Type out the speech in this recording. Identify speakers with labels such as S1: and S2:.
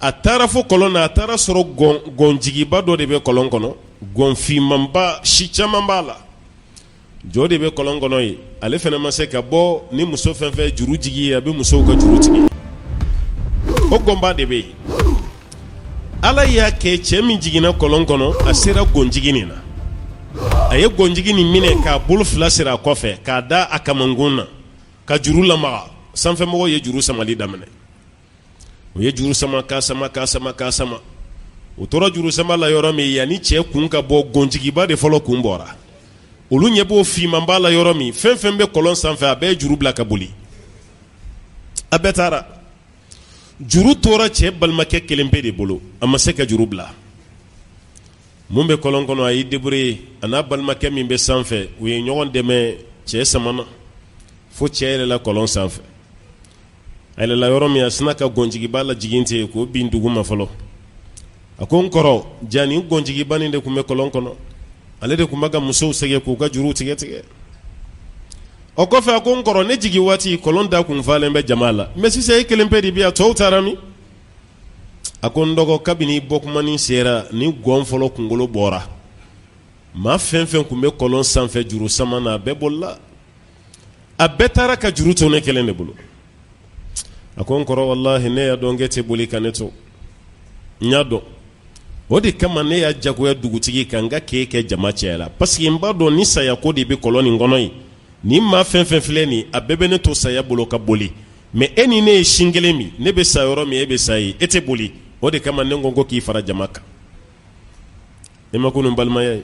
S1: a taara fo kɔlɔn na a taara sɔrɔ gɔnjigiba dɔ de bɛ kɔlɔn kɔnɔ gɔnfinmanba si caman b'a la ja o de bɛ kɔlɔn kɔnɔ yen ale fana ma se ka bɔ ni muso fɛn fɛn juru jigin yen a bɛ musow ka juru tigɛ o gɔnba de bɛ yen ala y'a kɛ cɛ min jiginna kɔlɔn kɔnɔ a sera gɔnjigi nin na a ye gɔnjigi nin minɛ k'a bolo fila siri a kɔfɛ k'a da a kamankun na ka juru lamaga sanfɛmɔgɔw ye juru samali daminɛ u ye juru sama k'a sama k'a sama k'a sama u tora juru sama la yɔrɔ min yanni cɛ kun ka bɔ gɔnjigiba de fɔlɔ kun bɔra olu ɲɛ b'o finmanba la yɔrɔ min fɛn fɛn bɛ kɔlɔn sanfɛ a bɛɛ ye juru bila ka boli a bɛɛ taara juru tora cɛ balimakɛ kelen pe de bolo a ma se ka juru bila min bɛ kɔlɔn kɔnɔ a y'i débrouiller a n'a balimakɛ min bɛ sanfɛ u ye ɲɔgɔn dɛmɛ cɛ samana fo cɛ yɛlɛla kɔlɔn sanfɛ A yɛlɛnla yɔrɔ min a sinna ka gɔnjigiba lajigin ten k'o bin dugu ma fɔlɔ a ko n kɔrɔ ja nin gɔnjigiba in de tun bɛ kɔlɔn kɔnɔ ale de tun bɛ ka musow sɛgɛn k'u ka juru tigɛ tigɛ o kɔfɛ a ko n kɔrɔ ne jigin waati kɔlɔn da tun falen bɛ jama la mais sisan e kelen pe de bi a tɔw taara min a ko n dɔgɔ kabini bɔtuma sera ni gɔn fɔlɔ kunkolo bɔra maa fɛn fɛn tun bɛ kɔlɔn sanfɛ juru sama na a bɛɛ bolila a bɛɛ taara ka juru to ne kelen de bolo a ko n kɔrɔ walayi ne y'a dɔn k'e tɛ boli ka ne to n y'a dɔn o de kama ne y'a jagoya dugutigi kan k'a k'e kɛ jama cɛ la parce que n b'a dɔn ni saya ko de bɛ kɔlɔn nin kɔnɔ yen ni maa fɛn fɛn filɛ nin a bɛɛ bɛ ne to saya bolo ka boli mais e ni ne ye sin kelen min ne bɛ sa yɔrɔ min e bɛ sa yen e tɛ boli o de kama ne ko ko k'i fara jama kan e ma ko balimaya ye